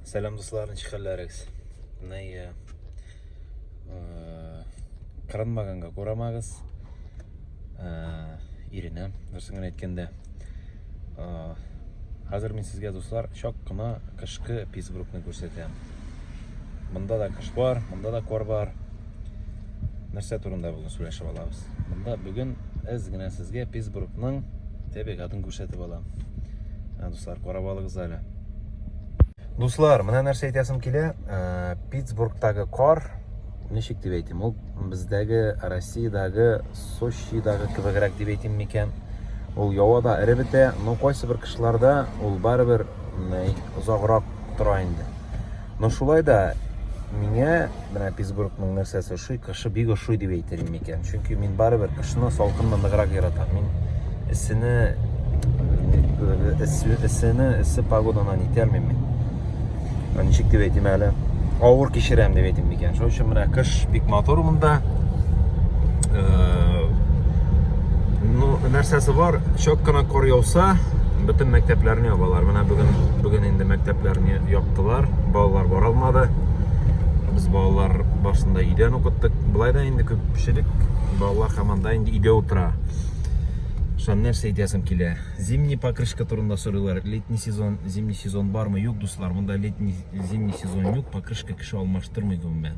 Сәлам дуслар, ничек хәлләрегез? Менә э, кырынмаганга күрәмәгез. Э, Иренә, дөресен генә әйткәндә. Э, хәзер мин сезгә дуслар чак кына кышкы Питтсбургны күрсәтәм. Монда да кыш бар, монда да кар бар. Нәрсә турында бүген сөйләшеп алабыз? Монда бүген әз генә сезгә Питтсбургның табигатын күрсәтеп алам. Дуслар, карап алыгыз әле. Дуслар, менә нәрсә әйтәсем килә, э, Питтсбургтагы кар, ничек дип әйтим, ул бездәге Россиядәге Сочидагы кебегрәк дип әйтим микән? Ул явада эре бетә, но кайсы бер кышларда ул барыбер озаграк тора инде. Но шулай да миңа менә Питтсбургның нәрсәсе ошый, кышы бик ошый дип әйтер идем икән. Чөнки мин барыбер кышны салкынны ныграк яратам. Мин эссене эссене эссе погоданы итә алмыйм мин. Ничек дип әйтим әле? Авыр кичерәм дип әйтим икән. Шуның өчен менә кыш бик матур монда. Э, ну, нәрсәсе бар, чак кына кар яуса, бөтен мәктәпләрне ябалар. Менә бүген бүген инде мәктәпләрне яп кайттылар. Балалар бара алмады. Без балалар башында өйдән укыттык. Болай да инде күпчелек балалар хаманда инде өйдә утыра. Шан нәрсә әйтәсем килә. Зимний покрышка турында сорыйлар. Летний сезон, зимний сезон бармы? Юк, дуслар, монда летний, зимний сезон юк. Покрышка кеше алмаштырмый гомумән.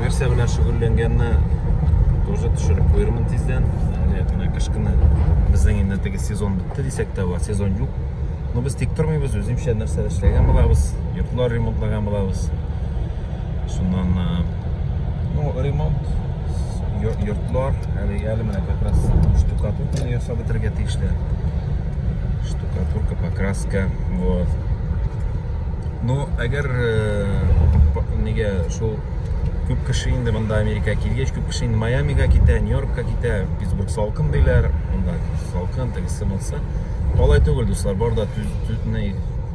нәрсә белән шөгыльләнгәнне тоже төшереп куермын тиздән. Әле менә кышкыны безнең инде теге сезон бетте дисәк тә була, сезон юк. Но без тик тормыйбыз, үземчә нәрсә эшләгән булабыз, йортлар ремонтлаган булабыз. Шуннан ну, ремонт йортлар, әле әле менә как раз штукатурканы ясап бетерергә тиешле. Штукатурка, покраска, вот. Ну, әгәр нигә шул күп кеше инде монда Америка килгәч, күп кеше инде Майамига китә, Нью-Йоркка китә, Питтсбург салкын диләр, монда салкын, тегесе монсы. Алай түгел, дуслар, бар да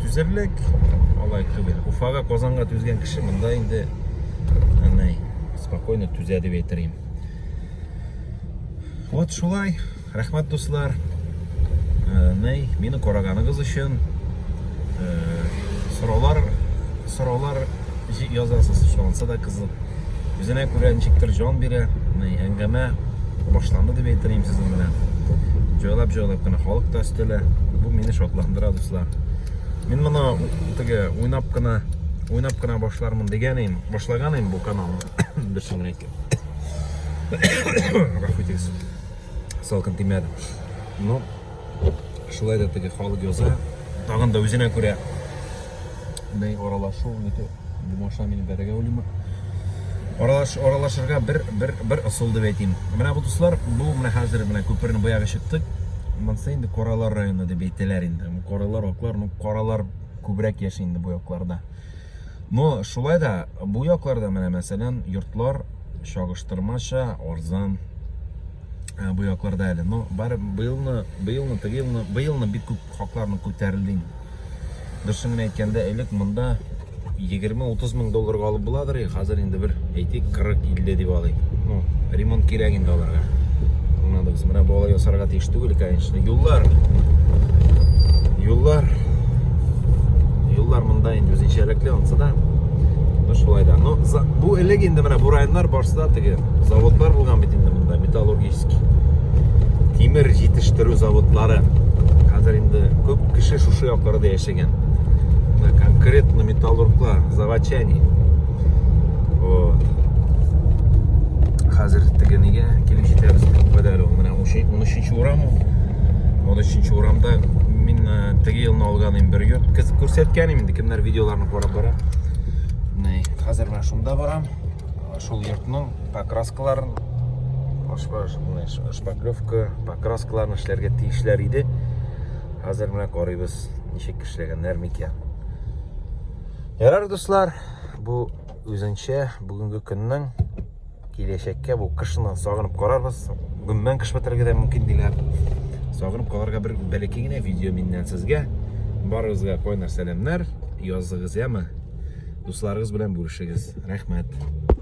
түзерлек, алай түгел. Уфага, Казанга түзгән кеше монда инде спокойно түзә дип әйтер Вот шулай. Рәхмәт дуслар, ней, мине караганыгыз өчен. Сораулар, сораулар язасыз, шуанса да кызык. Үзенә күрә ничектер җан бирә, ней, әңгәмә башланды дип әйтер идем сезнең белән. Җайлап, җайлап кына халык та өстәлә. Бу мине шатландыра, дуслар. Мин моны теге уйнап кына, уйнап кына башлармын дигән идем, башлаган идем бу каналны. Бер чынлыкка. Рәхмәт итегез. Салкын тимәде. Ну, шулай да теге халык яза. Тагын да үзенә күрә бей аралашу, ниту, бумаша мин бәрәгә үлиме. Аралаш, аралашырга бер, бер, бер ысул дип әйтим. Менә бу дуслар, бу менә хәзер менә күперне буягы чыктык. Монсы инде Коралар районы дип әйтәләр инде. Коралар, аклар, ну, коралар күбрәк яши инде бу якларда. Но шулай да бу якларда менә мәсәлән йортлар чагыштырмача арзан ә, бу якларда әле. Но бар быелны, быелны, теге елны, быелны бик күп хакларны күтәрелде. Дөресен генә әйткәндә, элек монда 20-30 мең долларга алып буладыр Хәзер инде бер әйтик 40-50 дип алыйк. Ну, ремонт кирәк инде аларга. Аңладыгыз, менә бу алай ясарга тиеш түгел, конечно. Юллар. Юллар. Юллар монда инде үзенчәлекле ансы да. Ну шулай да. Ну, бу элек инде менә бу районнар барсыда теге заводлар булган бит инде монда, металлургический. Тимер җитештерү заводлары. Хәзер инде күп кеше шушы якларда яши. Ген. Да, конкретно металлургла, заводчане. Вот. Хәзер тегенегә килеп җитәбез бит кадәр ул. Менә 13 урам ул. 13 урамда мин э, теге елны алган инде бер йорт күрсәткән инде кемнәр видеоларны карап бара. Менә хәзер менә шунда барам. Шул йортның покраскаларын шпаклевка, покраскаларын эшләргә тиешләр иде. Хәзер менә карыйбыз, ничек эшләгәннәр микән. Ярар, дуслар, бу үзенчә бүгенге көннең киләчәккә бу кышны сагынып карарбыз. Гөммән кыш бетерергә дә мөмкин диләр. Сагынып калырга бер бәләкәй генә видео миннән сезгә. Барыгызга кайнар сәламнәр. Языгыз яме. Дусларыгыз белән бүлешегез. Рәхмәт.